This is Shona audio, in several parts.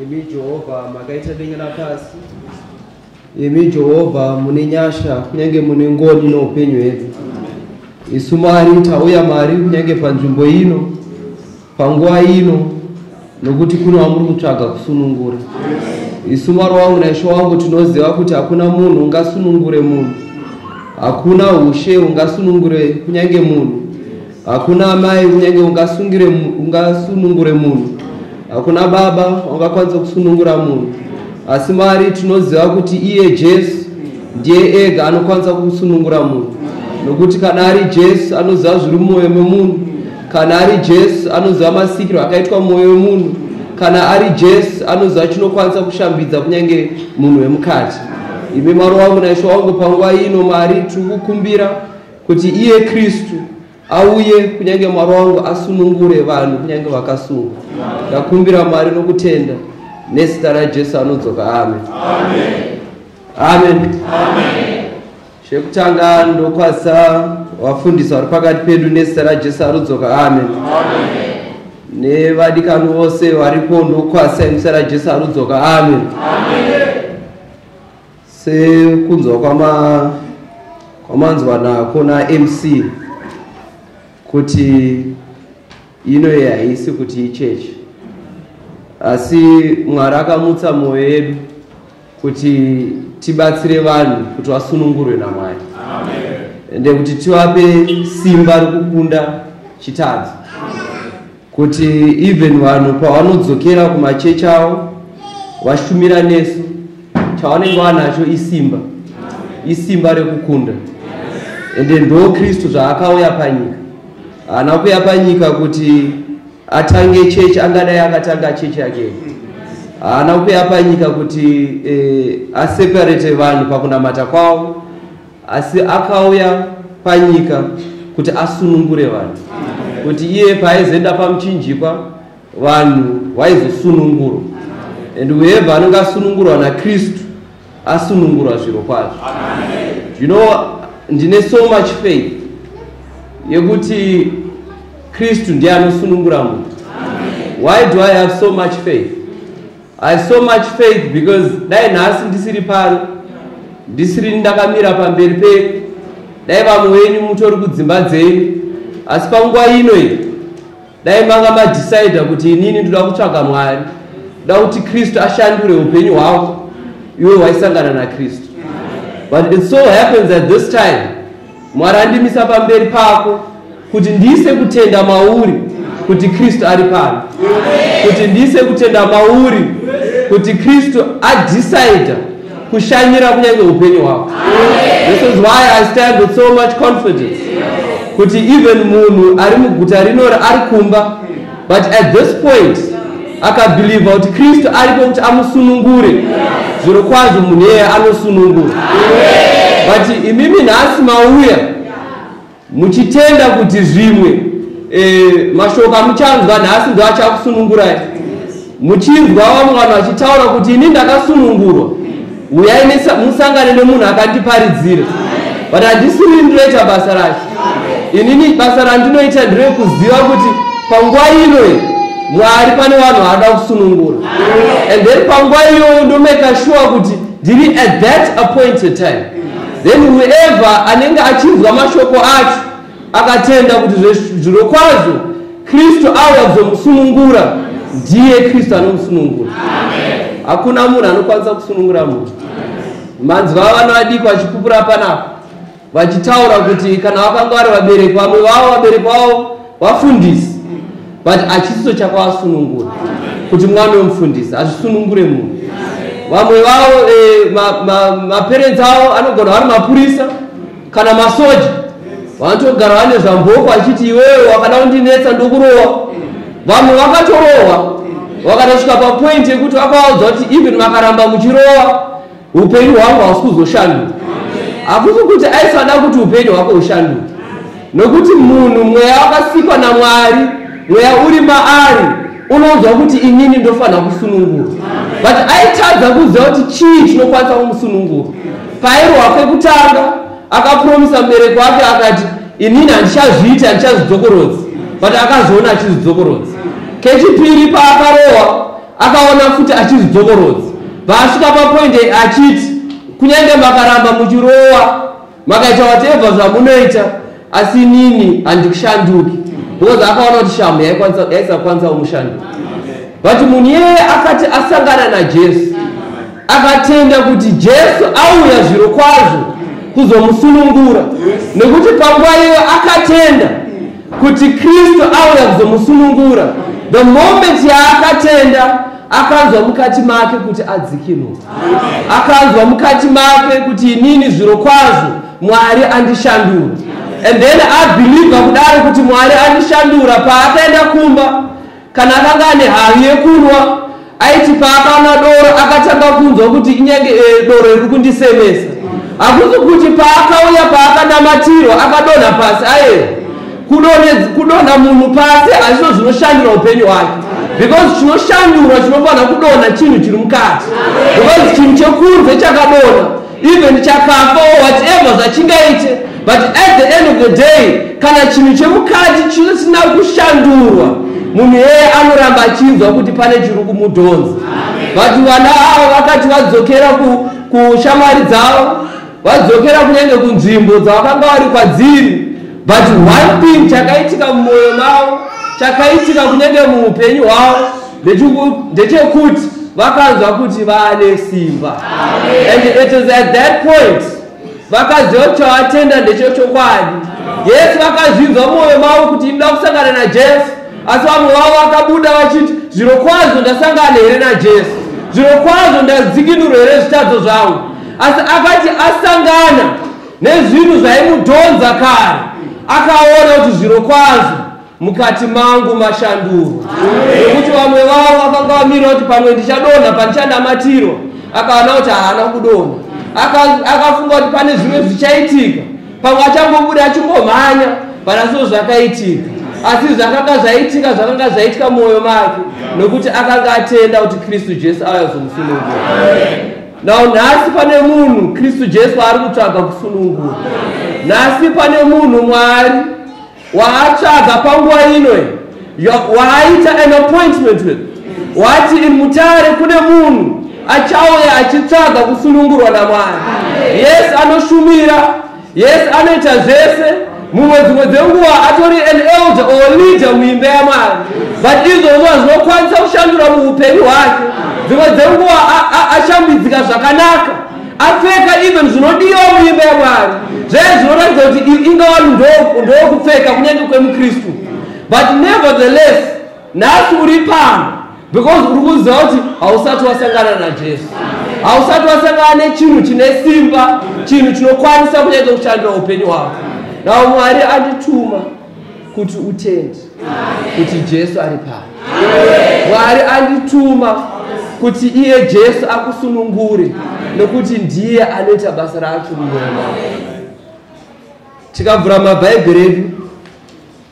imi jehovha makaita denga napasi imi jehovha mune nyasha kunyange mune ngoni noupenyu hwedu isu mari tauya mari kunyange panzvimbo ino panguva ino nokuti kune wamuri kutsvaga kusunungura isu mwari wangu naisho wangu tinoziva kuti hakuna munhu ungasunungure munhu hakuna ushe ungasunungure kunyange munhu hakuna amai kunyange ungasunungure munhu hakuna baba ungakwanisa kusunungura munhu asi mwari tinoziva kuti iye jesu ndiye ega anokwanisa kusunungura munhu nokuti kana ari jesu anoziva zviri mumwoyo memunhu Kana ari Jesu anoziva masikiro akaitwa mwoyo wemunhu. Kana ari Jesu anoziva chinokwanisa kushambidza kunyange munhu wemukati. Imi Mwari wangu naIshe wangu, panguva ino Mwari tiri kukumbira kuti iye Kristu auye kunyange Mwari wangu asunungure vanhu kunyange vakasungwa. Ndakumbira Mwari nokutenda nezita raJesu anodzoka. Amen. Amen. Amen. Amen. Chekutanga ndokwasa vafundisi vari pakati pedu nezita raJesu arudzoka. Amen. Nevadikani vose varipo ndokwasa nezita raJesu arudzoka. Amen. Sekunzwa kwama kwamanzwa nako naMC kuti ino haisi kuti ichechi asi Mwari akamutsa mwoyo yedu kuti tibatsire vanhu kuti vasunungurwe namwari ende kuti tivape simba rokukunda chitadzo kuti even vanhu pavanodzokera kumachechi avo vashumira nesu chavanenge vanacho isimba isimba rekukunda ende ndo kristu zvaakauya panyika haana kuya panyika kuti atange chechi angadai akatanga chechi yake haana kuuya panyika kuti eh, aseparate vanhu pakunamata kwavo asi akauya panyika kuti asunungure vanhu kuti iye paaizoenda pamuchinjikwa vanhu vaizosunungurwa and whoever anenge asunungurwa nakristu asunungurwa zviro kwazvo you know ndine so much faith yekuti kristu ndiye anosunungura munhu why do i have so much faith i have so much faith because dai nhasi ndisiri pano ndisiri ndakamira pamberi penyu dai vamwe venyu mutori kudzimba dzenyu asi panguva ino iyi dai manga madecider kuti inini ndoda kutsvaga mwari ndoda kuti kristu ashandure upenyu hwako iwe waisangana nakristu but it so happens at this time mwari andimisa pamberi pako kuti ndiise kutenda mauri kuti kristu ari pano kuti ndiise kutenda mauri kuti kristu adecider kushanyira kunyange upenyu hwako this is why i stand with so much confidence kuti even munhu ari muguta rinori ari kumba but at this point akabhilivha kuti kristu aripo kuti amusunungure zviro kwazvo munhu iyeye anosunungura but imimi nhasi mauya Muchitenda kuti zvimwe e, mashoko amuchanzwa nhasi ndo achakusunungurai. Muchinzwa vamwe vanhu vachitaura kuti ini ndakasunungurwa, uyai musangane nemunhu akandiparidzira, but handisi uri ndinoita basa racho. Inini basa randinoita ndirekuziva kuti panguva ino mwari pane vanhu vaada kusunungura and then panguva iyoyo ndomeka shuwa kuti ndiri at that appointed time Then whoever anenge achinzwa mashoko acho akatenda kuti zvirokwazvo Kristu auya kuzomusunungura, ndiye Kristu anomusunungura. Hakuna munhu anokwanisa kusunungura munhu. Manzi vava vana vadiki vachipupura panapa vachitaura kuti kana vakanga vari vabereki vamwe vavo vabereki vavo vafundisi but achisiso chakwasunungura kuti mwana wemufundisi hazvisunungure munhu vamwe vavo eh, maparents ma, ma avo anogona vari mapurisa kana masoja vanotogara vane zvamboko achiti iwewe wakada kundinetsa ndokurowa vamwe vakatorohwa vakatosvika papoint yekuti vakavaudza kuti even vakaramba muchirowa upenyu hwangu hausi kuzoshanduka hakusi kuti aisada kuti upenyu hwako hushanduke nokuti munhu mweya wakasikwa namwari mweya uri maari unonzwa kuti inini ndofanira kusunungura but aitadza kuziva kuti chii chinokwanisa kumusunungura pairohwa kwekutanga akapromisa mubereki wake akati inini handichazviiti handichazvidzokorodzi but akazoona achizvidzokorodzi kechipiri paakarohwa Akaona futi achizvidzokorodza paasvika papoint achiti kunyange makaramba muchirowa makaita whatever zvamunoita asi nini handikushanduki because akaona kuti shamhu yaisakwanisa kumushanduka but munhu iyeye akati asangana najesu akatenda kuti jesu auya zviro kwazvo kuzomusunungura nekuti panguva iyo akatenda kuti kristu auya kuzomusunungura the moment yaakatenda akanzwa mukati make kuti adzikinurwa akanzwa mukati make kuti inini zviro kwazvo mwari andishandura and then abhilivha kudaro kuti mwari andishandura paakaenda kumba Kana akanga ane havi yekunwa, aiti paakanwa doro akatanga kunzwa kuti inyange eh, doro riri kundisemesa. Hakuzi kuti paakauya paakanamatirwa akadonha pasi aye. Kudonhe- Kudonha munhu pasi hazvino zvinoshandura upenyu hwake because chinoshandurwa chinofanira kudonha chinhu chiri mukati because chinhu chekunze chakadonha even chakafa or whatever zvachingaite but at the end of the day kana chinhu chemukati chisina kushandurwa munhu yeye anoramba achinzwa kuti pane chiri kumudhonza vati vana avo vakati vadzokera kushamwari dzavo vadzokera kunyange kunzvimbo dzavakanga vari kwadziri But one thing chakaitika mumoyo mavo chakaitika kunenge muupenyu hwavo ndechekuti vakanzwa kuti vane simba and it is at that point vakaziva kuti chavatenda ndecho chokwadi yesu vakazvinzwa mwoyo mavo kuti inoda kusangana najesu asi vamwe vavo vakabuda vachiti zviro kwazvo ndasangana here najesu zviro kwazvo ndadzikinurwa here zvitadzo zvangu asi akati asangana nezvinhu zvaimudhonza kare akaona kuti zviro kwazvo mukati mangu mashanduro nekuti vamwe vavo vakanga vamira kuti pamwe ndichadonha pandichanamatiro akaona kuti haana kudonha akafunga kuti pane zvimwe zvichaitika pamwe achangobuda achingomhanya pana so zvakaitika asi zvakanga zvaitika zvakanga zvaitika mwoyo make nokuti akanga atenda kuti kristu jesu auya kuzomusunungura Now nhasi pane munhu Kristu Jesu ari kutsvaga kusunungura. Nhasi pane munhu Mwari waatsvaga panguva ino waaita an appointment with wati in mutare kune munhu achauya achitsvaga kusunungurwa naMwari. Yes anoshumira Yes, anoita zvese mumwe dzimwe dzenguva atori an elder or leader muimba yamwari but izvozvo hazvinokwanisa kushandura muupenyu hwake dzimwe dzenguva ashambidzika zvakanaka apfeka even zvinodiwa muimba yamwari zvee zvinoratidza kuti inga vanhu ndokupfeka kunyange kwemukristu but nevertheless nhasi uri pano because uri kuziva kuti hausati wasangana najesu hausati wasangana nechinhu chine simba chinhu chinokwanisa kunyaita kushandira upenyu hwako nao mwari andituma kuti utendi kuti jesu ari pano mwari andituma kuti iye jesu akusunungure nokuti ndiye anoita basa racho munyama tikabvura mabhaibheri edu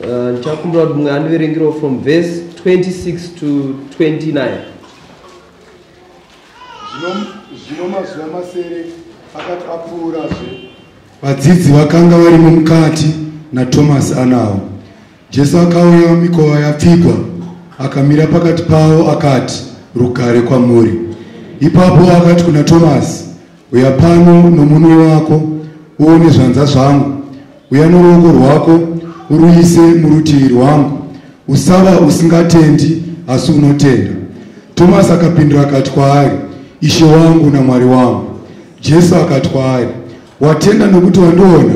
Uh, ndichakumbira kuti mumwe andiverengirawo from verse 26 to 29 zvino mazuva masere akati apfuurazve vadzidzi vakanga varimo mukati natomasi anawo jesu akauya mikova yapfigwa akamira pakati pavo akati rugare kwamuri ipapo akati kuna tomasi Uya pano nomunwe wako uone zvanza zvangu, uya noruoko rwako uruise murutivi rwangu, usava usingatendi asi unotenda. Tomasi akapindura akati kwaari, Ishe wangu naMwari wangu. Jesu akati kwaari, Watenda nokuti wandiona?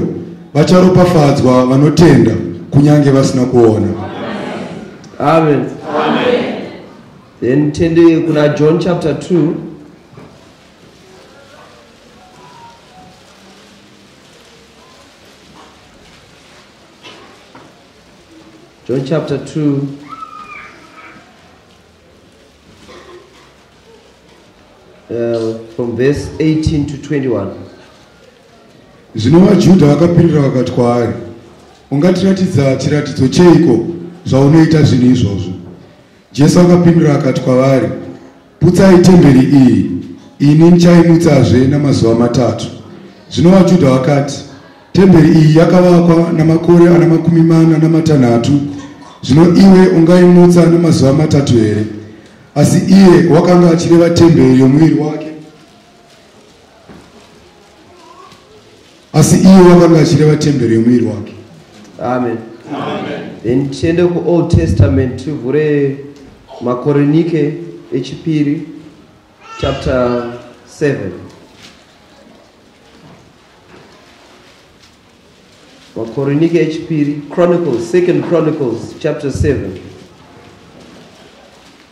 Vacharopafadzwa vanotenda kunyange vasina kuona. Amen. Amen. Then tende kuna John chapter 2 John chapter 2, uh, from verse 18 to 21. zvino vajudha vakapindura vakati kwaari ungatiratidza chiratidzo cheiko zvaunoita zvinhu izvozvo jesu akapindura akati kwavari Putsai temberi iyi, ini ndichaimutsazve namazuva matatu. Zvino vaJudha vakati, Temberi iyi yakavakwa namakore ana makumi mana namatanhatu, zvino iwe ungaimutsa namazuva matatu here? Asi iye wakanga achireva temberi yomuviri wake asi iye wakanga achireva temberi yemuviri wake amen then tiende kuold testament tivhure makorinike echipiri chapter 7 makorinike echipiri chronicles second chronicles chapter 7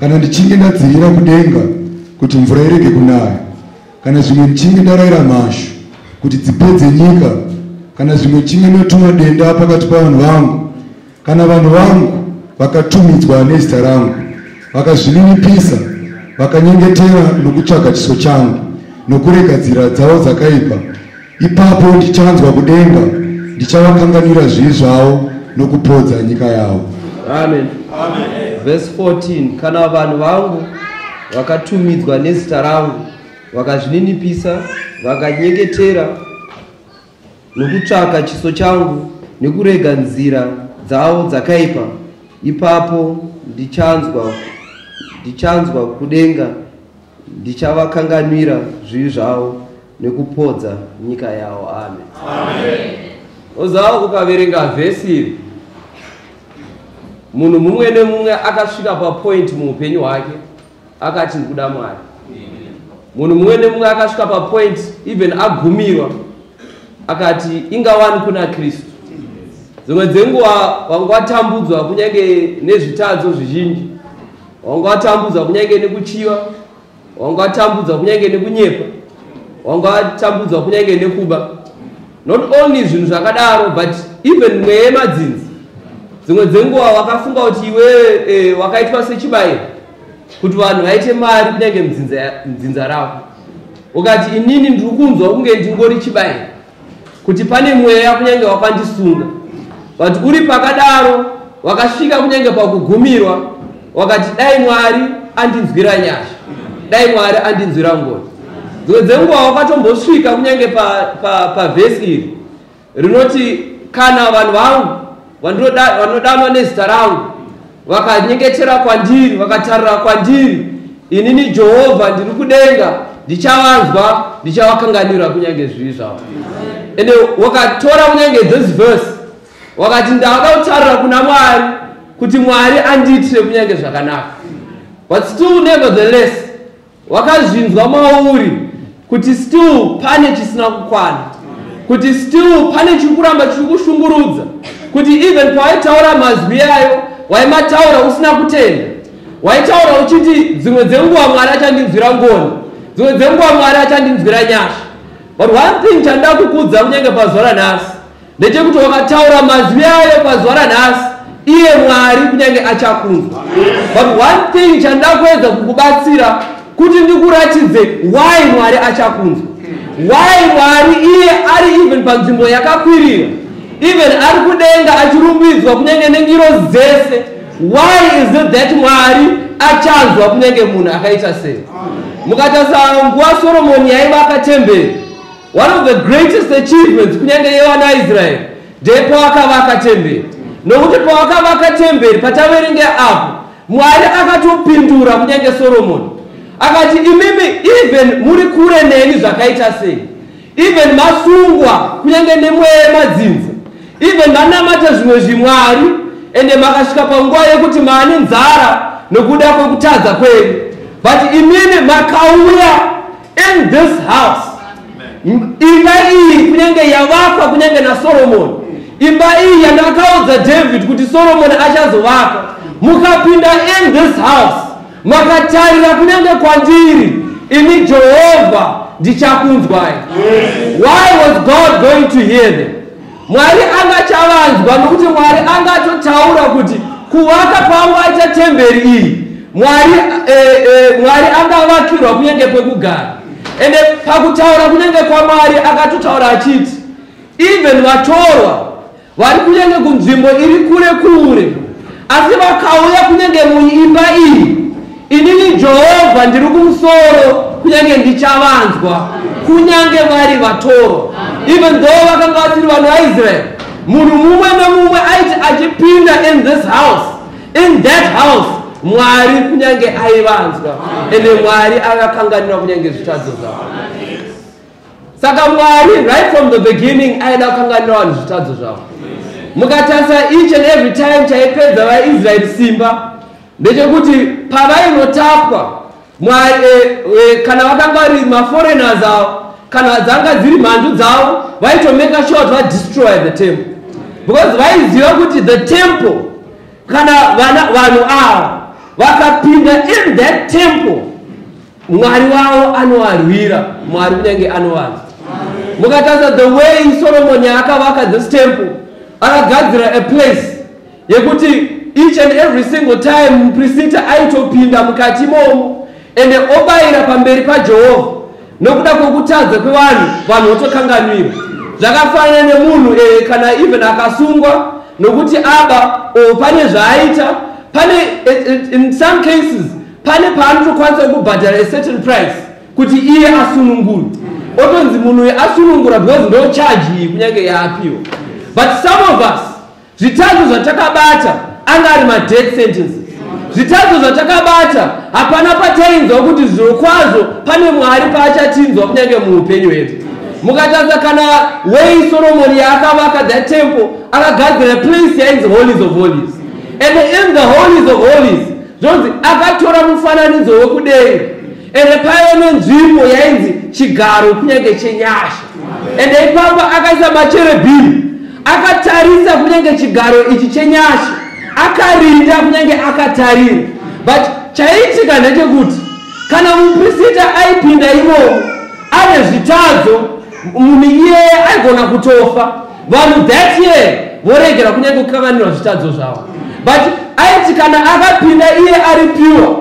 kana ndichinge ndadzivira kudenga kuti mvura irege kunaya kana zvimwe ndichinge ndaraira mhashu kuti dzipedze nyika kana zvimwe ndichinge ndotuma denda pakati pavanhu vangu kana vanhu vangu vakatumidzwa nezita rangu vakazvininipisa vakanyengetera nokutsvaga chiso changu nokuregadzira dzavo dzakaipa Ipapo ndichanzwa kudenga, ndichavakanganwira zvivi zvavo nokupodza nyika yavo. Amen. Amen. Verse 14 kana vanhu vangu vakatumidzwa nezita rangu vakazvininipisa vakanyeketera nokutsvaka chiso changu nekurega nzira dzavo dzakaipa ipapo ndichanzwa ndichanzwa kudenga ndichavakanganwira zvivi zvavo nekupodza nyika yavo amen, amen. ozawo ukaverenga vhesi iri munhu mumwe nemumwe akasvika papointi muupenyu hwake akati ndikuda mwari munhu mumwe nemumwe akasvika papointi even agumirwa akati ingawani kuna kristu dzimwe dzenguva vanga vatambudzwa kunyange nezvitadzo zvizhinji wanga watambudzwa kunyange nekuchiva wanga watambudzwa kunyange nekunyepa wanga watambudzwa kunyange nekuba not only zvinhu zvakadaro but even mweya yemadzinzi dzimwe dzenguva wakafunga kuti iwe e, wakaitwa sechibairo kuti vanhu vaite mari kunyange mdzinza ravo ukati inini ndiri kunzwa kunge ndingori chibairo kuti pane mweya kunyange wakandisunga but uri pakadaro wakasvika kunyange pakugumirwa wakati dai mwari andinzwira nyasha dai mwari andinzwira ngoni dzimwe dzenguva wakatombosvika kunyange pavhesi pa, pa, pa iri rinoti kana vanhu vangu vanodanwa nezita rangu vakanyengetera kwandiri vakatarira kwandiri inini jehovha ndiri kudenga ndichavanzwa ndichavakanganwira kunyange zvivi zvavo ende wakatora kunyange this verse wakati ndavada kutarira kuna mwari kuti mwari andiitire kunyange zvakanaka but still nevertheless wakazvinzwa mauri kuti still pane chisina kukwana kuti still pane chiri kuramba chiri kushungurudza kuti even pawaitaura mazwi ayo waimataura usina kutenda waitaura uchiti dzimwe dzenguva mwari achandinzwira ngoni dzimwe dzenguva mwari achandinzwira nyasha but one thing chandida kukudza kunyange pazuva ranhasi ndechekuti wakataura mazwi ayo pazuva ranhasi iye mwari kunyange achakunzwa but one thing chandakuedza kukubatsira kuti ndikuratidze why mwari achakunzwa why mwari iye ari even panzvimbo yakakwirira even ari kudenga achirumbidzwa kunyange nengiro dzese why is it that mwari achanzwa kunyange munhu akaita sei mukatasa nguva soromoni yaivaka temberi One of the greatest achievements kunyange yevana Israel ndepawakavaka temberi nokuti pawakavaka temberi pataverenge apo Mwari akatopindura kunyange Solomoni akati imimi even muri kure neni zvakaita sei even masungwa kunyange nemweya yemadzinza even manamata zvimwe zvimwari ende makasvika panguva yekuti maane nzara nokuda kwekutadza kwenyu but imimi makauya in this house imba iyi kunyange yavakwa kunyange nasoromoni imba iyi yandakaudza david kuti soromoni achazovaka mukapinda in this house makatarira kunyange kwandiri ini jehovha ndichakunzwai why was god going to hear them Mwari angachavanzwa nokuti Mwari angatotaura kuti kuvaka kwangu aita temberi iyi Mwari, eh, eh, Mwari angavakirwa kunyange kwekugara ende pakutaura kunyange kwaMwari akatotaura achiti even vatorwa vari kunyange kunzvimbo iri kure kure asi vakauya kunyange muimba iyi Inini Jehovha ndiri kumusoro, kunyange ndichavanzwa, kunyange vari vatorwa. Even though vakanga vasiri vanhu vaIsrael, munhu mumwe nomumwe aiti achipinda in this house, in that house, Mwari kunyange aivanzwa, ende Mwari akakanganira kunyange zvitadzo zvavo. Saka Mwari right from the beginning aida kukanganira vanhu zvitadzo zvavo. Mukatarisa each and every time chaipedza vaIsrael simba, ndechekuti pavainotapwa mwari e, e, kana vakanga vari maforeigners avo kana dzanga dziri mhandu dzavo vaitomeka sure kuti vadestroy the temple because vaiziva kuti the temple kana vana vanhu ava vakapinda in that temple mwari wavo anovarwira mwari kunyange anovarwa mukatarisa the way solomoni akavaka this temple akagadzira a place yekuti each and every single time muprisita aitopinda mukati imomo ende obayira pamberi pajehovha nokuda kwokutadza kwevanhu vanhu votokanganwira zvakafanana nemunhu e, kana even akasungwa nokuti aba o pane zvaaita pane e, e, in some cases pane paanotokwanisa kubhadhara a certain price kuti iye asunungurwe otonzi munhu uyu asunungura because ndo chaji kunyange yaapiwa but some of us Zvitadzo zvatakabata anga ari madeath sentence. Zvitadzo zvatakabata hapana patainzwa kuti zvirokwazvo pane Mwari paachatinzwa kunyange muupenyu hwedu. Mukatadza kana wei Soromoni yaakavaka that temple akagadzira place yainzi holies of holies. And in the holies of holies zvonzi akatora mufananidzo wekudenga ende paiva nenzvimbo yainzi chigaro kunyange chenyasha ende ipapo akaisa macherebhini akatarisa kunyange chigaro ichi chenyasha akarinda kunyange akatarira but chaiitika ndechekuti kana muprisita aipinda imomo ane zvitadzo munhu iyeye aigona kutofa vanhu that year voregera kunyange kukanganirwa zvitadzo zvavo but aiti kana akapinda iye ari piwa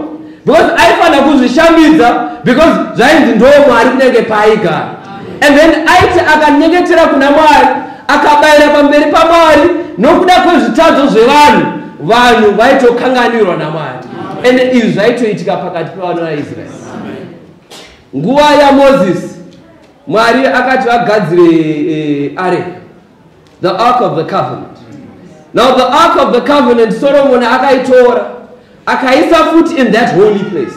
because aifanira kuzvishambidza because zvainzi ndo mwari kunenge paaigara and then aiti akanyengetera kuna mwari akabayira pamberi pamwari nokuda kwezvitadzo zvevanhu vanhu vaitokanganirwa namwari and izvi zvaitoitika pakati pevana vaisraeri nguva yamozisi mwari akati vagadzire eh, areka the ark of the covenant now the ark of the covenant solomoni akaitora akaisa futi in that holy place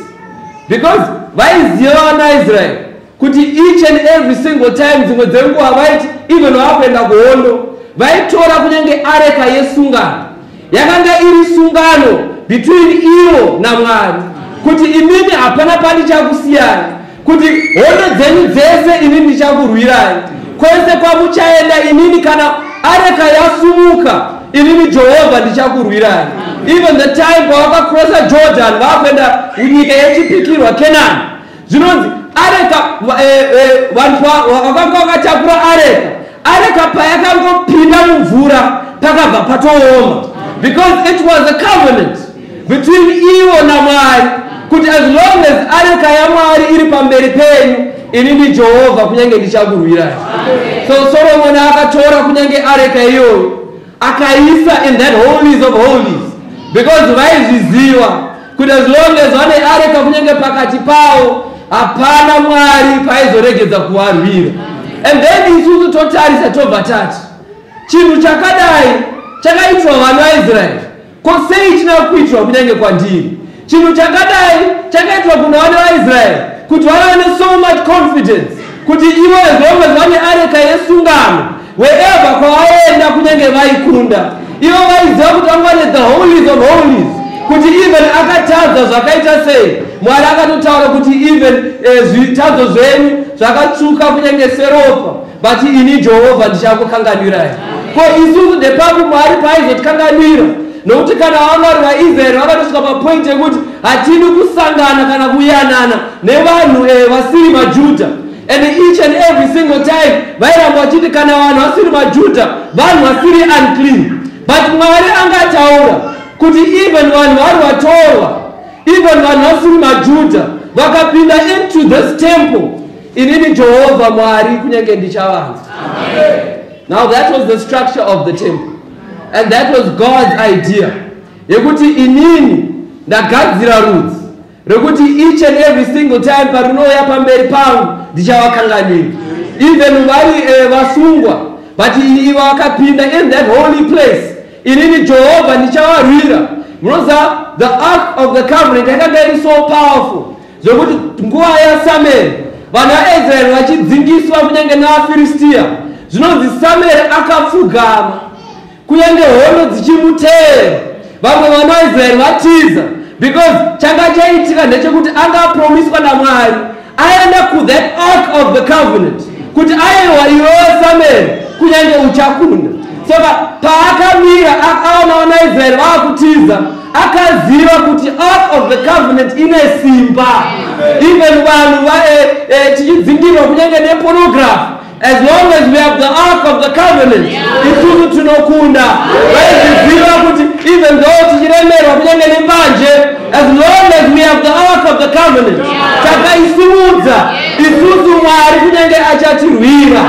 because vaiziva vanaisraeri kuti each and every single time dzimwe dzenguva vaiti even vakuenda kuhondo vaitora kunyange areka yesungano Yakanga iri sungano between ivo naMwari kuti imimi hapana pandichakusiyai, kuti hondo dzenyu dzese ini ndichakurwirai, kwese kwamuchaenda inini, kana areka yasumuka inini Jehovha ndichakurwirai. Even the time pawakakrosa Jordan vakuenda nyika yechipikirwa Kenani zvinonzi areka va- eh, eh, vanhu va- va- vakanga vakatakura areka areka payakangopinda mumvura pakabva patooma because it was a covenant between ivo namwari kuti as long as areka yamwari iri pamberi penyu ini ndi jehovha kunyange ndichakurwirai so soromoni akatora kunyange areka iyoyo akaisa in that holies of holies because vaizviziva kuti as long as vane areka kunyange pakati pavo hapana mwari paizoregedza kuvarwira and then isusu totarisa tobva tati chinhu chakadai chakaitwa vana vaisraeri Ko sei china kuitwa kunyange kwandiri? Chinhu chakadai chakaitwa kuna vana vaIsraeri kuti vana vane so much confidence kuti ivo as long as vane areka yesungano wherever kwavaenda kunyange vaikunda ivo vaiziva kuti vanga vane the holies of holies kuti even akatadza zvakaita sei mwari akatotaura kuti even eh, zvitadzo zvenyu zvakatsvuka kunyange seropa but ini jehovha ndichakukanganwirai ko isusu ndepapi mwari paaizotikanganwira nokuti kana vamwari vaisraeri vakatosvika papointi yekuti hatidi kusangana kana kuyanana nevanhu eh, vasiri majudha and each and every single time vairamba vachiti kana vanhu vasiri majudha vanhu vasiri unclean but mwari anga ataura kuti even vanhu vari vatorwa even vanhu vasiri majudha vakapinda into this temple Inini Jehovha Mwari kunyange ndichavanza. Now that was the structure of the temple. And that was God's idea. Yekuti inini ndagadzira rudzi rekuti each and every single time parinouya pamberi pangu ndichavakanganira. Even vari eh, vasungwa but ini ivo vakapinda in that holy place. Inini Jehovha ndichavarwira. Munoziva the ark of the covenant yakanga iri so powerful Zvekuti nguva yaSamueri vanhu vaIsraeri vachidzingiswa kunyange navaFiristiya, zvinonzi Samueri akapfugama kunyange hondo dzichimuteera, vamwe vanhu vaIsraeri vatiza because changa chaitika ndechekuti anga apromiswa naMwari aenda kuthat ark of the covenant kuti aiwa iwewe Samueri kunyange uchakunda soka paakamira akaona vanaIsraeri vaakutiza akaziva kuti ark of the covenant ine simba even vanhu vae eh, tichidzingirwa kunyange nepornography as long as we have the ark of the covenant isusu tinokunda vaiziziva kuti even though tichiremerwa kunyange nembanje as long as we have the ark of the covenant takaisimudza isusu mwari kunyange achatirwira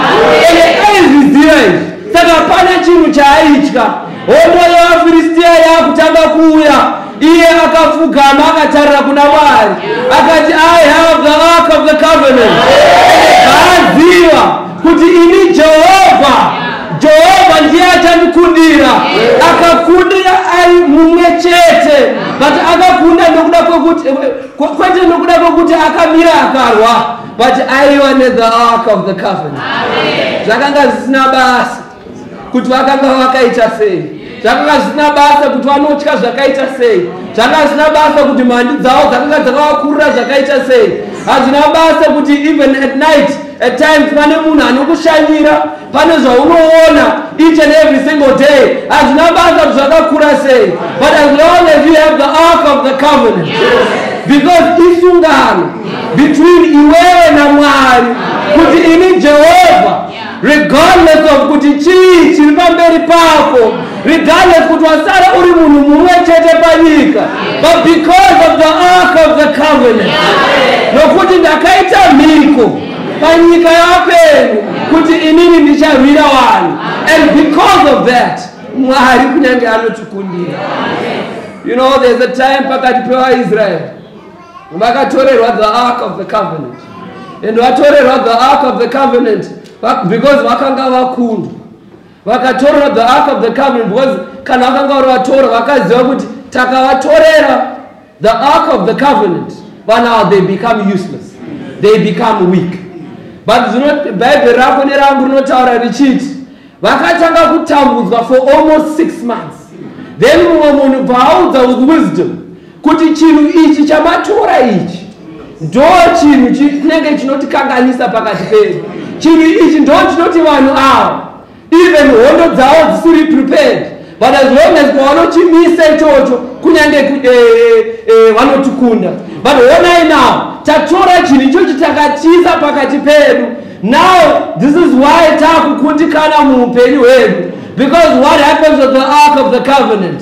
ende aizviziva izvi saka hapana chinhu chaaitya Hondo yevaFiristia yakutanga kuuya, iye akapfugama akatarira kuna Mwari akati, I have the ark of the covenant. Ndaaziva kuti ini Jehovha, Jehovha ndiye achandikundira. Akakundira ari mumwe chete, but akakunda nokuda kwekuti kwe- kwete nokuda kwekuti akamira akarwa, but aiva ne the ark of the covenant. Zvakanga zvisina basa. kuti vakanga vakaita sei zvakanga zvisina basa kuti vanotya zvakaita sei zvakanga zvisina basa kuti mhandi dzavo dzakanga dzakavakurira zvakaita sei hazvina basa kuti even at night at times pane munhu anokushanyira pane zvaunoona each and every single day hazvina basa kuti zvakakura sei but as long as you have the ark of the covenant because isungano between iwewe namwari kuti ini jehovha regardless of kuti chii chiri pamberi pako regardless kuti wasara uri munhu mumwe chete panyika but because of the ark of the covenant nokuti ndakaita mhiko panyika yapenyu kuti inini ndicharwira vanhu and because of that mwari kunyange anotikundira you know there's a time pakati pevaisraeri vakatorerwa the ark of the covenant and vatorerwa the ark of the covenant because vakanga vakundwa vakatorerwa the ark of the covenant because kana vakanga vari vatora vakaziva kuti takavatorera the ark of the covenant but now they become useless they become weak but bhaibheri rako nerangu rinotaura richiti vakatanga kutambudzwa for almost six months then mumwe munhu paaudza with wisdom kuti chinhu ichi chamatora ichi ndo chinhu chinenge chinotikanganisa pakati pedu chinhu ichi ndo chinoti vanhu ava even hondo dzavo dzisiri prepared but as long as kwavanochimisa ichocho kunyange eh, eh, eh, vanotikunda but honai now tatora chinhu ichochi takatiza pakati pedu now this is why taakukundikana muupenyu hwedu because what happens with the ark of the covenant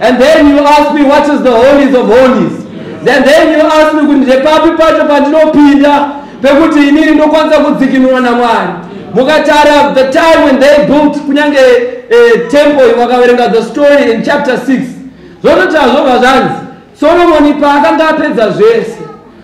And then you ask me what is the holies of holies. Then then you ask me kuti ndepapi pacho pandinopinda pekuti inini ndokwanisa kudzikinurwa naMwari. Mukatara the time when they built kunyange eh, temple wakaverenga the story in chapter 6. Zvonoti hazvobva zvanzi Solomoni paakanga apedza zvese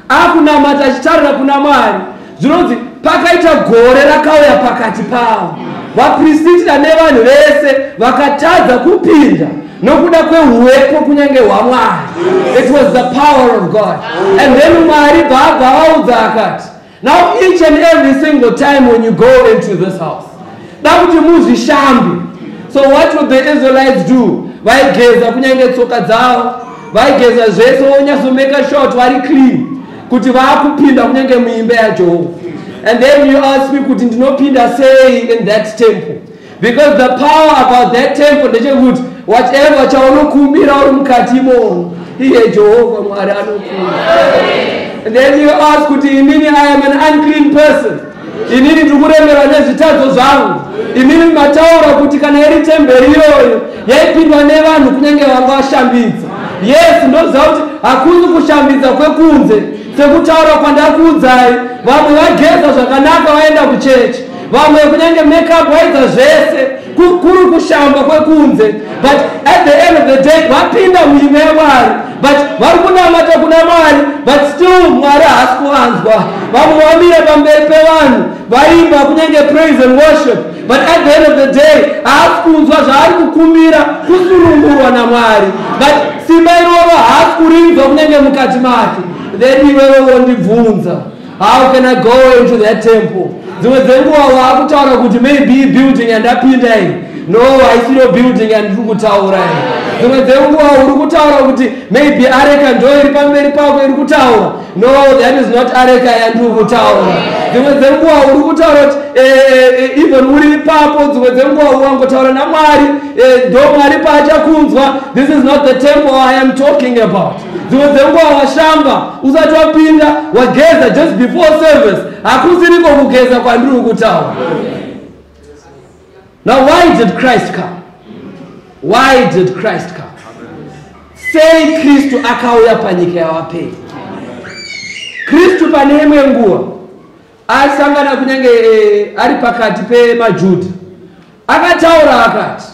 akunamata achitarira kuna mwari zvinonzi pakaita gore rakauya pakati pavo vaprisitira nevanhu vese vakatadza kupinda nokuda kweuwepo kunyange hwamwari it was the power of god and then mwari bvaabva vaudza akati now each and every single time when you go into this house dakuti muzvishambe so what would the israelites do vaigeza kunyange tsoka dzavo vaigeza zvese vonyasomeka short vari clean kuti vaakupinda kunyange muimba yajehovha and then you ask me kuti ndinopinda sei in that temple because the power about that temple ndechekuti whatever chaunokumbira uri mukati imono iye jehovha mwari anokumbira and then you ask kuti inini i am an unclean person inini ndikuremera nezvitadzo zvangu imimi mataura kuti kana iri temberi iyoyo yaipindwa nevanhu kunyange vanga vashambidza yes ndoziva kuti hakuzi kushambidza kwekunze sekutaura kwandakuudzai vamwe vageza zvakanaka vaenda kuchechi vamwe kunyange makeup waidza zvese kuri kushamba kwekunze but at the end of the day vapinda muimba yamwari but vari kunamata kuna mwari but still mwari haasi kuvanzwa vamwe vamira pamberi pevanhu vaimba kunyange praise and worship but at the end of the day haasi kunzwa zvaari kukumbira kusunungurwa namwari but simba iroro haasi kurinzwa kunyange mukati make then iwewe wondibvunza how can i go into that temple dzimwe dzenguva waakutaura kuti maybe building yandapinda iyi no haisiyo building yandiri kutaura iyi dzimwe dzenguva uri kutaura kuti maybe areka ndo iri pamberi pako iri kutaura no that is not areka yandiri kutaura dzimwe dzenguva uri kutaura kuti eh, eh, eh, even uri ipapo dzimwe dzenguva wangotaura namwari ndo mwari paachakunzwa this is not the temple i am talking about dzimwe dzenguva washamba usati wapinda wageza just before service hakusiriko kugeza kwandiri kutaura now why did christ come why did christ come sei kristu akauya panyika yavapei kristu pane imwe nguva asangana kunyange eh, ari pakati pemajudha akataura akati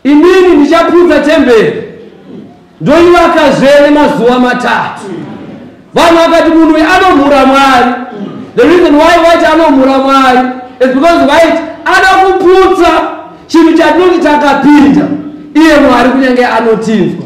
Inini ndichaputsa temberi ndoivaka zvene mazuva matatu. Vanhu vakati munhu uyu anomhura Mwari. The reason why waiti anomhura Mwari is because waiti ada kuputsa chinhu chatinoti takapinda iye Mwari kunyange anotinzwa.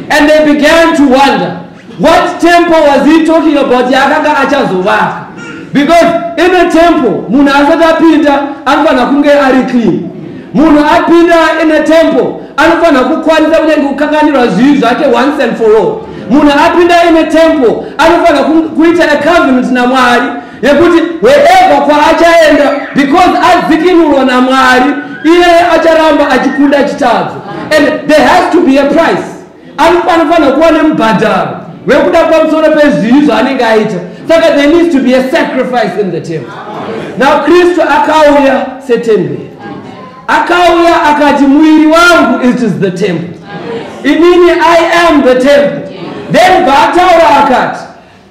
And they began to wonder What temple was he talking about yaakanga achazovaka? Because in a temple munhu asati apinda anofanira kunge ari clean. Munhu apinda in a temple anofanira kukwanisa kunyange kukanganirwa zvivi zvake once and for all. Munhu apinda in a temple anofanira kuita a covenant naMwari yekuti wherever kwaachaenda because adzikinurwa naMwari iye acharamba achikunda chitadzo and there has to be a price anofanira kuva nemubhadharo wekuda pamusoro pezvivi zvaanenge aita saka there needs to be a sacrifice in the temple now kristu akauya setemberi akauya akati muviri wangu it is the temple inini i am the temple then paataura akati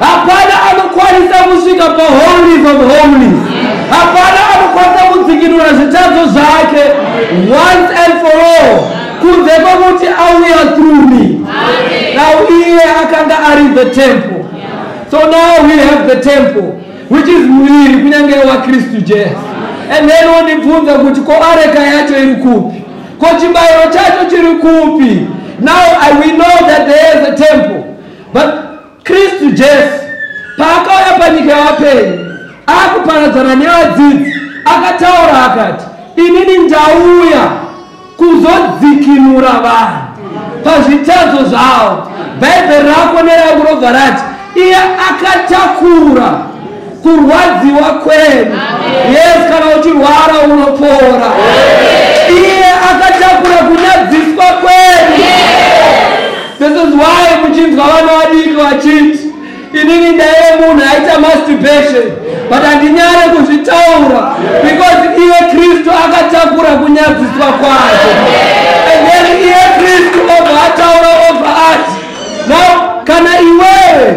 Hapana anokwanisa kusvika paholies of holies. Hapana anokwanisa kudzikinura zvitadzo zvake once and for all kunze kwekuti auya through me. Now iye akanga ari the temple. So now we have the temple which is muviri kunyange waKristu Jesu. And then wondibvunza kuti ko areka yacho iri kupi? Ko chibayiro chacho chiri kupi? Now I, we know that there is a temple. But Kristu Jesu paakauya panyika yavapenyu akuparadzana nevadzidzi akataura akati inini ndauya kuzodzikinura vanhu pazvitadzo zvavo bhaibheri rako nerangu robva rati iye akatakura kurwadziwa kwenu yes kana uchirwara unopora iye akatakura kunyadziswa kwenu this is why muchinzwa vana vadiki vachiti inini ndaive munhu aita masturbation but handinyare kuzvitaura because iye kristu akatakura kunyadziswa kwacho and then iye kristu obva ataura obva ati now kana iwewe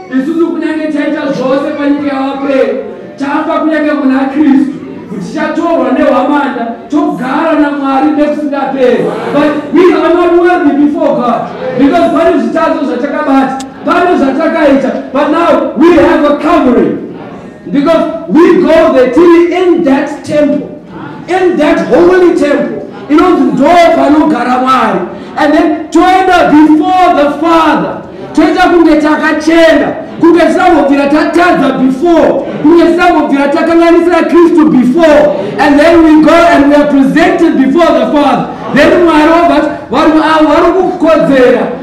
isusu kunyange taita zvose panyika yavakweri tafa kunyange muna kristu tichatorwa nehwamanda togara namwari nekusingaperi but we are not worthy before god because pane zvitadzo zvatakabata pane zvatakaita but now we have a covering Because we go there tiri in that temple, in that holy temple, inonzi ndo panogara Mwari. And then toenda before the Father, toita kunge takachena, kunge tisambobvira tatadza before, kunge tisambobvira takanganisira Kristu before. And then we go and we are presented before the Father. Then Mwari obva vari kukodzera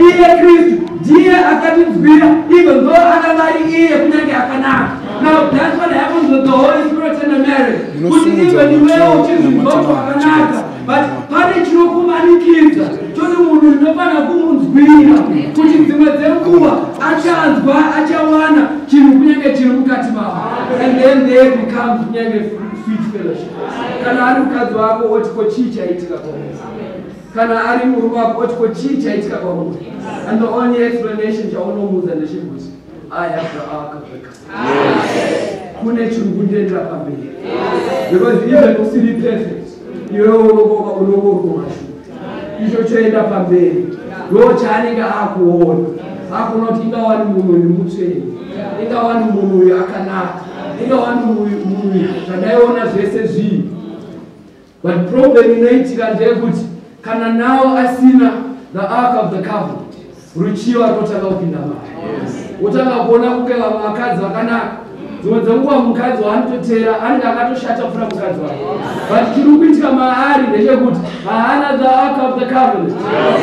iye kristu ndiye akatinzwira even though akanga ari iye kunyange akanaka now that's what happens with the holy spirit in the marriage kuti even iwewo uchizvinzwa kuti wakanaka but pane chinokumanikidza choti munhu ndinofanira kumunzwira kuti dzimwe dzenguva achanzwa achawana chinhu kunyange chiri mukati mavo and then they become kunyange sweet fellowship kana ari mukadzi wako woti ko chii chaitika kwamusa kana ari murume wako oti ko chii chaitika kwamuti and the only explanation chaunomuudza ndechekuti i have the ark of the covenant kune chiri kundiendera pamberi because even usiri perfect iwe unokoka unokorwa mashu icho choenda pamberi ndo chaanenge akuona akuona kuti ingawani munhu uyu mutsveni ingawani munhu uyu akanaka ingawani munhu uyu zvandaiona zvese zvii But problem inoitika ndeyekuti kana nawo asina the ark of the covenant ruchiva runotanga kupinda mari wotanga kuona kuke vamwe vakadzi vakanaka dzimwe dzenguva mukadzi waanototera anenge akatoshata kupfuura mukadzi wake but chiri kuitika maari ndechekuti haana the ark of the covenant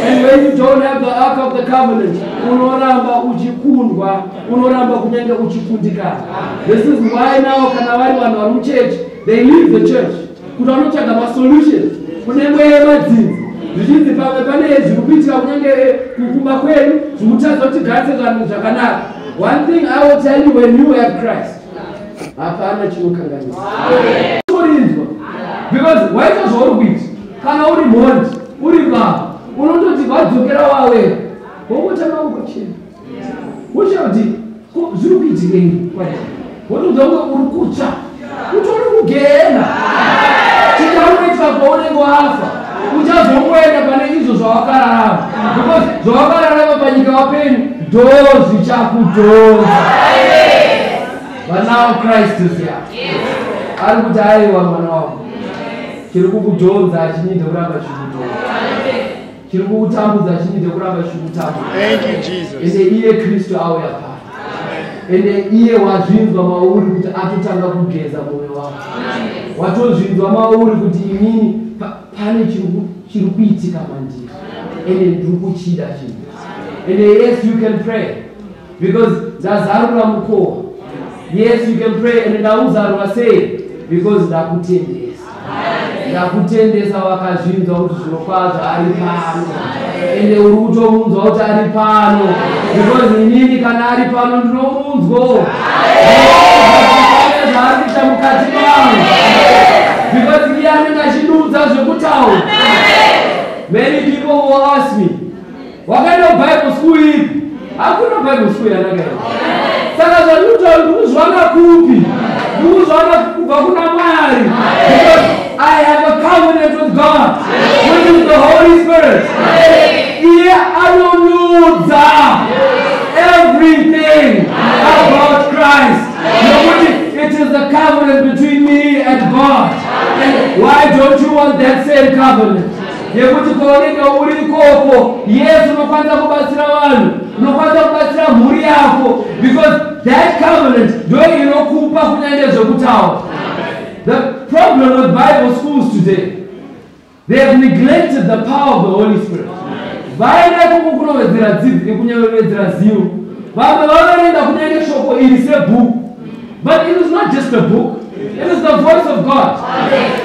and when you don't have the ark of the covenant unoramba uchikundwa unoramba kunyange uchikundikana this is why now kana vari vanhu vari muchechi they leave the church kuti vanotsvaga masolution kune mweya yemadzinza zvichinzi pamwe pane zviri kuitika kunyange kukumba kwedu zvokutadza kuti tigadzire zvanhu zvakanaka one thing i will tell you when you have christ hapana chinokanganisa kurinzwa because waita zvauri kuita kana uri mhondi uri baba unototi vadzokera wawe wongotanga kugochena wochera kuti zviri kuitikei wotodza kunge uri kutsva utori kugena chikamuitwa kwaunenge wafa uchazongoenda pane izvo zvawakararama because zvawakararama panyika wapenyu dozi chakudhoza vanawo kristu siya ari kuti aiwa mwana wavo chiri kukudhonza achinyidza kuramba chikudhonza chiri kukutambudza chini ndekuramba chichikutambudza ende iye kristu auya pano ende iye wazvinzwa mauri kuti atotanga kugeza mwoyo wako watozvinzwa mauri kuti inini pane chiri kuitika mandiri ende ndiri kuchida chinhu ende yes you can pray Because ndazarura mukova. Yes, you can pray and ndauzarura sei? Because ndakutendesa. Ndakutendesa wakazvinzwa kuti zvirokwazvo ari pano. Ende uri kutomunzwa kuti ari pano. Because inini kana ari pano ndinomunzwawo. Pane zvaari kuita mukati mangu. Because iye anenge achidudza zvekutaura. Many people will ask me. Wakaenda kuBible school ipi? Hakuna Bible school yandakaenda. Saka zvandinotaura ndikuzviwana kupi? Ndikuzviwana kubva kuna Mwari. Because I have a covenant with God, which is the Holy Spirit. Iye anonudza everything about Christ. Nokuti it is the covenant between me and God. And why don't you want that same covenant? nekuti kwaunenge uri ikoko yesu unokwanisa kubatsira vanhu unokwanisa kubatsira mhuri yako because that covenant ndo inokupa kunyange zvekutaura the problem with bible schools today they have neglected the power of the holy spirit vaenda kuku kunowedzera dzidzi nekunyaovedzera zivo vamwe vanoenda kunyange shoko iri sebhuku But it is not just a book, it is the voice of God.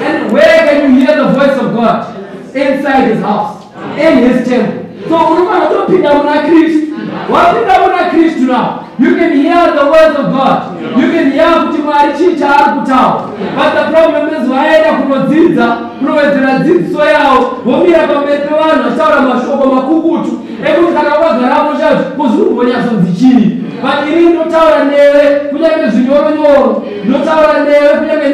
And where can you hear the voice of God? Inside his house, in his temple. So unofana kutopinda muna Kristu. Wapinda muna Kristu now. You can hear the words of God. You can hear kuti Mwari chii chaari kutaura. But the problem is vaenda kunodzidza, kunowedzera dzidziso yavo, vomira pamberi pevanhu vachitaura mashoko makukutu. ekuti kana wakagarapo chacho kuzikumbonyatsonzi chii but ini ndotaura newe kunyange zvinyoro nyoro ndotaura newe kunyange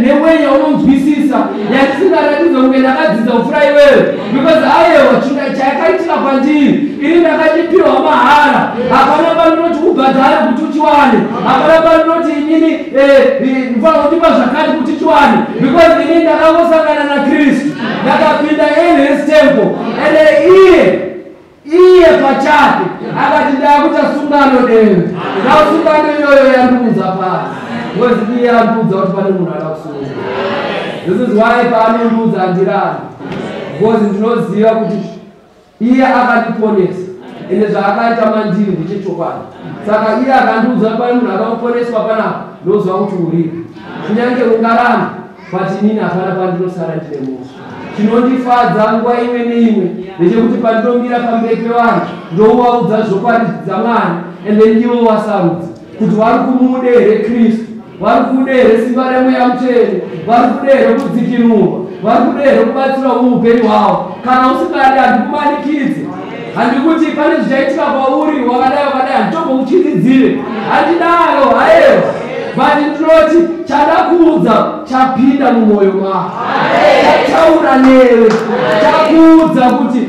neweyi yaunonzwisisa yandisingaratidza kunge ndakadzidza kufura iwewe because ayewa chinga chayakaitika kwandiri ini ndakachipihwa mahara hapana panoti ubhadhare kuti uchiwane hapana panoti inini mva kutipa zvakati kuti tiwane because ini ndakangosangana nakristu ndakapinda in his temple and iye iye pachake akati ndakuita sungano deni now sungano iyoyo yandiudza pasi because iye andiudza kuti pane munhu ada kusunga this is why paanondiudza andirani because ndinoziva kuti Iye akandiponesa ende zvaakaita mandiri ndechechokwadi. Saka iye akandiudza pane munhu akaponeswa panapa ndoziva kuti uripo. Kunyange ungaramba but inini hapana pandinosara ndine musha. Chinondifadza nguva imwe neimwe ndechekuti pandinomira pamberi pevanhu ndouvaudza zvokwadi dzaMwari and then ivo vasarudza. kuti vari kumude here kristu vari kude here simba remweya mutsvene vari kude here kudzikinurwa vari kude here kubatsirawo muupenyu hwavo kana usingadi handikumanikidze handikuti pane zvichaitika kwauri wakadai wakadai handitombokutyiridzire handidaro haewa but ndinoti chada kuudza chapinda mumwoyo mako chataura newe chakuudza kuti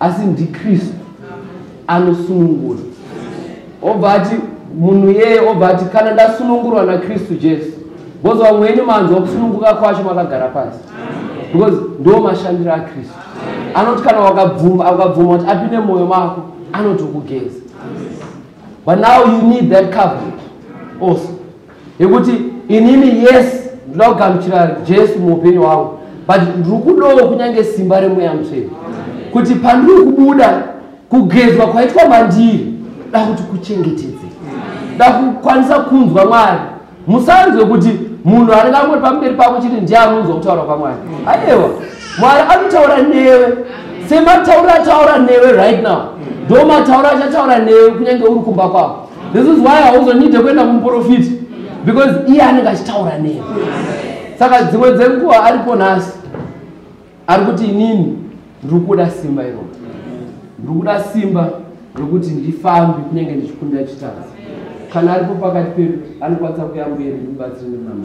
asi ndikristu anosunungura obva ati munhu yeye obva ati kana ndasunungurwa nakristu jesu bcoz vamwe wenyu manzwa kusununguka kwacho makagara pasi because ndo mashandiro akristu anoti kana wakabvuma akabvuma kuti apinde mwoyo mako anotokugeza but now you need that covenant also yekuti inini yes ndinoda kugamuchira jesu muupenyu hwangu but ndiri kudawo kunyange simba remweya mutsvene kuti pandiri kubuda kugezwa kwaitwa mandiri da kuti kuchengetedze da kukwanisa kunzwa mwari musanzwe kuti munhu anenge angoti pamberi pako chiti ndiye anonzwa kutaura kwamwari aewa mwari anotaura newe semataura ataura newe right now ndomataura achataura newe kunyange uri kumba kwako this is why hauzonyite kuenda kumuprofiti because iye anenge achitaura nei saka dzimwe dzenguva aripo nhasi ari kuti inini ndiri kuda simba iroo ndiri kuda simba rokuti ndifambi kunyange ndichikunda chitadzi kana aripo pakati pedu anokwanisa kuyamberi ndibatsire nemama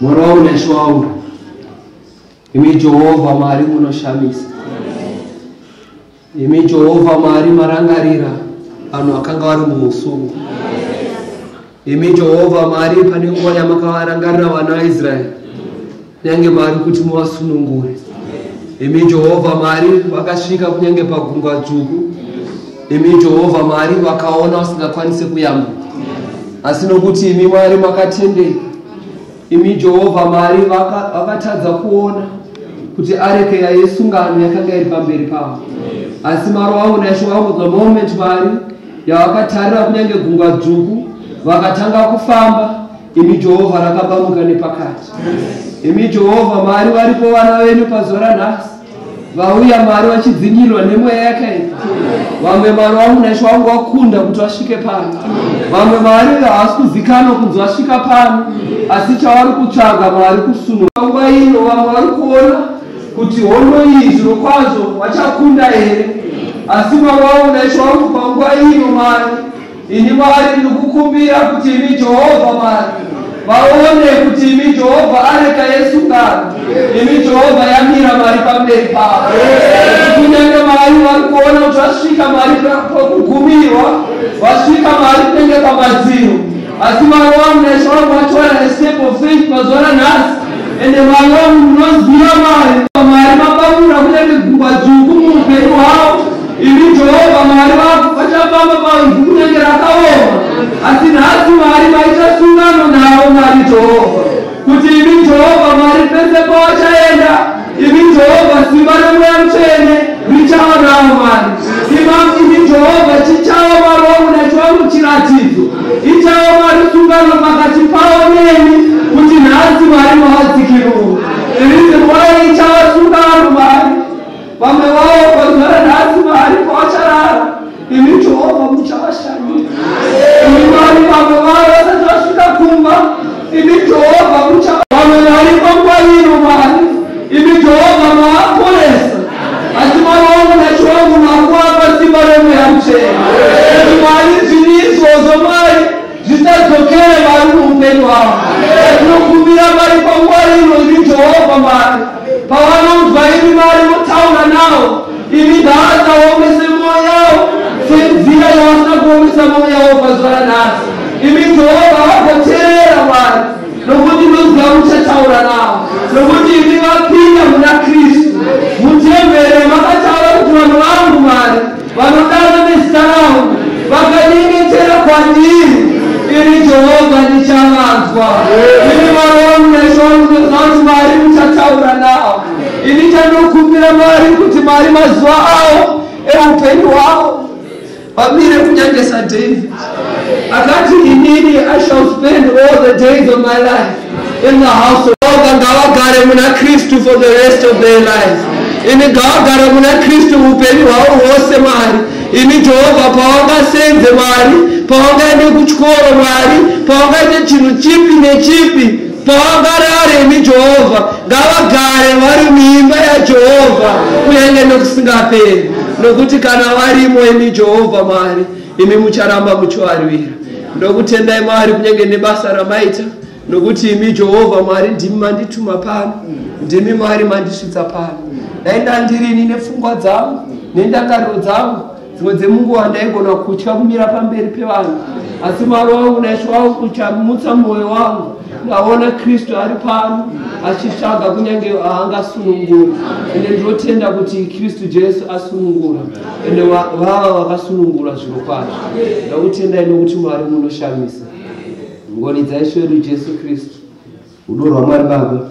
Mwana wangu Nesho wangu, imi Jehovha Mwari munoshamisa, imi Jehovha Mwari marangarira vanhu akanga vari mumusungwa, imi Jehovha Mwari pane nguva yamakavarangarira vana vaIsraeri, kunyange Mwari kuti muvasunungure, imi Jehovha Mwari vakasvika kunyange pagungwa dzvuku imi jehovha mwari vakaona usingakwanise kuyambuka asi nokuti imi mwari makatendei imi jehovha mwari vakatadza kuona kuti areke yaisungano yakanga iri pamberi pavo asi maro wavo naisho wavo the moment mwari yavakatarira kunyange gungwa dzvuku vakatanga kufamba imi jehovha rakabamuka nepakati imi jehovha mwari varipo vana venyu pazuva ranhasi vauya mwari vachidzingirwa nemweya yakaipa vamwe mwari vamunaisho vangu vakunda kuti vasvike pano vamwe mwari havasi kuzikanwa kunzi vasvika pano asi chavari kutsvaga mwari kusunura nguva ino vamwe vari kuona kuti hondo iyi zviro kwazvo vachakunda here asi mwari vamunaisho vangu panguva ino mwari Ini Mwari ndikukumbira kuti imi Jehovha Mwari vaone kuti imi Jehovha areka yesungano, imi Jehovha yamira Mwari pamberi pavo. Kunyange Mwari vari kuona kuti vasvika Mwari pakugumirwa, vasvika Mwari kunenge pamadziro, asi Mwari wangu naIshe wangu vatora step of faith mazuva nanhasi, ende Mwari wangu munoziva Mwari, Mwari mapaura kunyange gungwa dzvuku muupenyu hwavo Imi Jehovha Mwari vako vachafamba paivhu kunyange rakaoma, asi nhasi Mwari vaita sungano navo, Mwari Jehovha, kuti imi Jehovha Mwari pese pavachaenda, imi Jehovha simba remweya mutsvene richava navo, Mwari Imam, imi Jehovha chichava Mwari wangu nachiwangu chiratidzo, ichava Mwari sungano pakati pavo nemi, kuti nhasi Mwari mavadzikiruka. There is a why ichava sungano Mwari Vamwe vavo vagara nhasi mahari kwavacharara, imi Jehovha muchavashandira. Imi Mwari, vamwe vavo vasati vasvika kumba, imi Jehovha mucha vamwe vari panguva ino Mwari, imi Jehovha maaporesa, asi Mwari wangu nachiwangu makuapa simba remweya muchena. Imi Mwari, zviri izvozvo Mwari, zvisadzokere mari muupenyu hwavo tinokumbira mari panguva ino imi jehovha mari pavanonzwa imi mari votaura navo imi dhaadza waomese mwoyo yavo senzira yavasina kuomesa mwoyo yavo pazuva ranhasi imi jehovha vagoteerera mari nokuti ndoziva muchataura navo nokuti imi vapinda muna kristu mutembere makataura kuti vanhu vangu mari vanodaro nezita rangu vakanyengetera kwandiri ini jehovha ndichavanzwa ini mwari wangu naishe wangu ndinoziva kuti mwari muchataura navo ini chandokumbira mwari kuti mwari mazuva avo eupenyu hwavo vamire kunyangesa david akati inini i shall spend all the days of my life in the house of oga ngavagare muna kristu for the rest of their life ini ngavagare muna kristu upenyu hwavo hwose mwari ini jehovha pavangasenze mwari pavangaende kuchikoro mwari pavangaite chinhu chipi nechipi pavangarare ini jehovha ngavagare vari muimba yajehovha kunyange nekusingaperi nokuti kana varimo ini jehovha mwari imi mucharamba muchivarwira ndokutendai mwari kunyange nebasa ramaita nokuti imi jehovha mwari ndimi mandituma pano ndimi mwari mandisvitsa pano dai ndandirini nepfungwa dzangu nendangariro dzangu dzimwe dzemunguva ndaigona kutya kumira pamberi pevanhu asi mwari wangu naishe wangu uchamutsa mwoyo wangu ndaona kristu ari pano achitsvaga kunyange aangasunungura ende ndinotenda kuti kristu jesu asunungura ende vava vakasunungura zviro kwazvo ndakutendai nokuti mwari munoshamisa ngoni dzaiswedu jesu kristu rudo rwamwari baba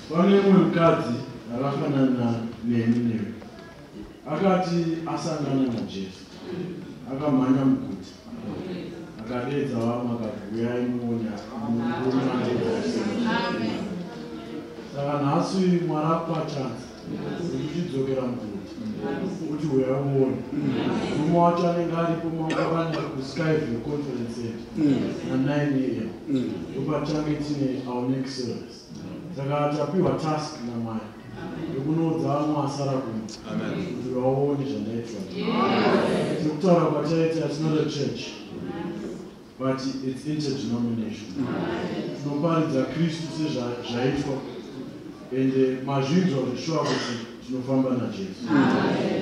Pane umwe mukadzi akafanana neni newe akati asangana naJesu akamhanya muguti akadeedza vamwe akati uyai muone saka nhasi mwari akupa chansi uchidzokera muguti kuti uyai muone murume wacho anenge aripo mangavani kuskyview conference center na 9 am ndopachange tine our next service saka tapiwa task namwari yekunoudza vamwe vasara kuno kuti vaone zvandaitwa sekutaura kwataita tinode church but its interdenomination tinoparidza kristu sezvaitwa and eh, mazvinzwa zveshuwa kuti tinofamba najesu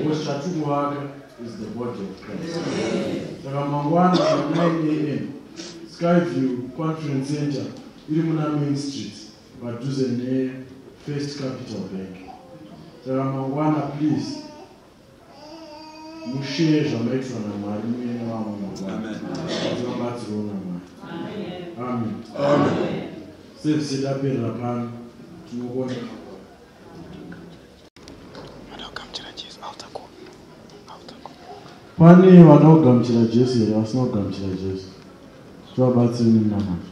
because chatikuvaka is the body of christ saka mangwana 9 am skyview conference center iri muna Main Street padhuze neFirst Capital Bank. Saka mangwana please musheye zvamaitwa naMwari muye nevamwe mangwana vabatsirwo naMwari. Amen. Amen. Service yaperera pano tinokonda pane vanoda kugamuchira jesu here vasina kugamuchira jesu tivabatsiri nemunamato